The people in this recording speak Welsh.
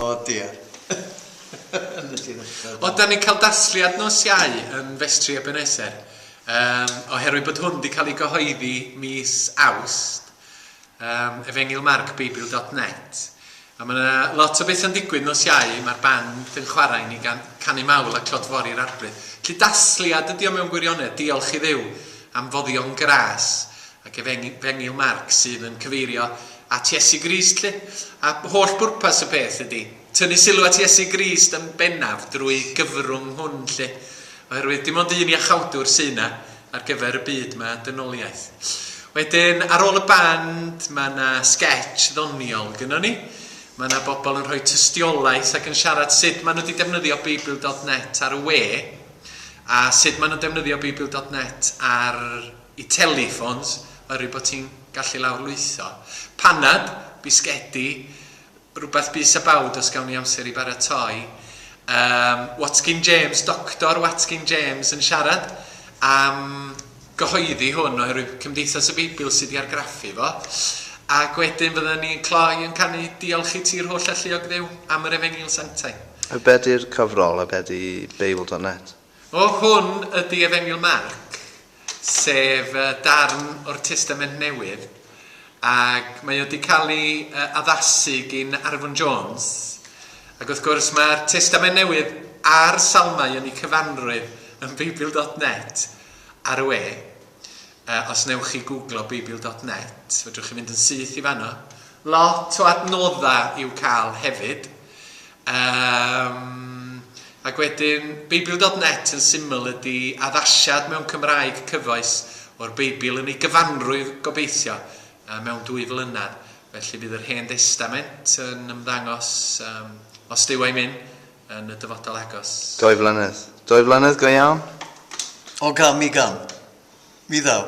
O dear. Ond da ni'n cael dasliad nos Iau yn Festri Ebenezer. Um, oherwydd bod hwn wedi cael ei gyhoeddi mis Awst, um, efengilmarcbeibl.net. A mae yna lot o beth yn digwydd nos Iau, mae'r band yn chwarae i ni gan, canu mawl a clod fori'r arbryd. Lly dasliad ydi o mewn gwirionedd, diolch i ddew am foddion gras. Ac efengyl Marc sydd yn cyfeirio at Iesu Grist 'lly. A holl bwrpas y peth ydy tynnu sylw at Iesu Grist yn bennaf drwy gyfrwng hwn 'lly. Oherwydd dim ond un Iachawdwr sy' 'na ar gyfer y byd 'ma, dynoliaeth. Wedyn ar ôl y band ma' 'na sgetsh ddoniol gynnon ni. Ma' 'na bobl yn rhoi tystiolaeth ac yn siarad sut ma' nhw 'di defnyddio Beibl dot net ar y we a sut ma' nhw'n defnyddio Beibl dot net ar Y teleffons yr y bod ti'n gallu lawrlwytho. Panad, bisgedi, rhywbeth bys a bawd os gawn ni amser i baratoi. Yym, Watkin James, Doctor Watkin James yn siarad am gyhoeddi hwn oherwydd Cymdeithas y Beibl sydd wedi argraffu fo. Ac wedyn fydden ni'n cloi yn canu Diolch i Ti'r Holl Alluog Dduw am yr Efengyl Sanctaidd. A be di'r cyfrol a be di Beibl dot net? O hwn ydy Efengyl Marc, sef darn o'r Testament Newydd, ac mae o wedi cael ei addasu gyn Arfon Jones. Ac wrth gwrs mae'r Testament Newydd a'r Salmau yn eu cyfanrwydd yn Beibl.net ar y we. Yy os newch chi gwglo Beibil dot net, fedrwch chi fynd yn syth i fanno. Lot o adnodda i'w ca'l hefyd. Yym ac wedyn Beibil dot net yn syml ydi addasiad mewn Cymraeg cyfoes o'r Beibl yn ei gyfanrwydd gobeithio yy mewn dwy flynadd. Felly bydd yr Hen Destament yn ymddangos yym os Duw a'i myn'. yn y dyfodol agos. Dwy flynedd. Dwy flynedd go iawn? O gam i gam. Mi ddaw.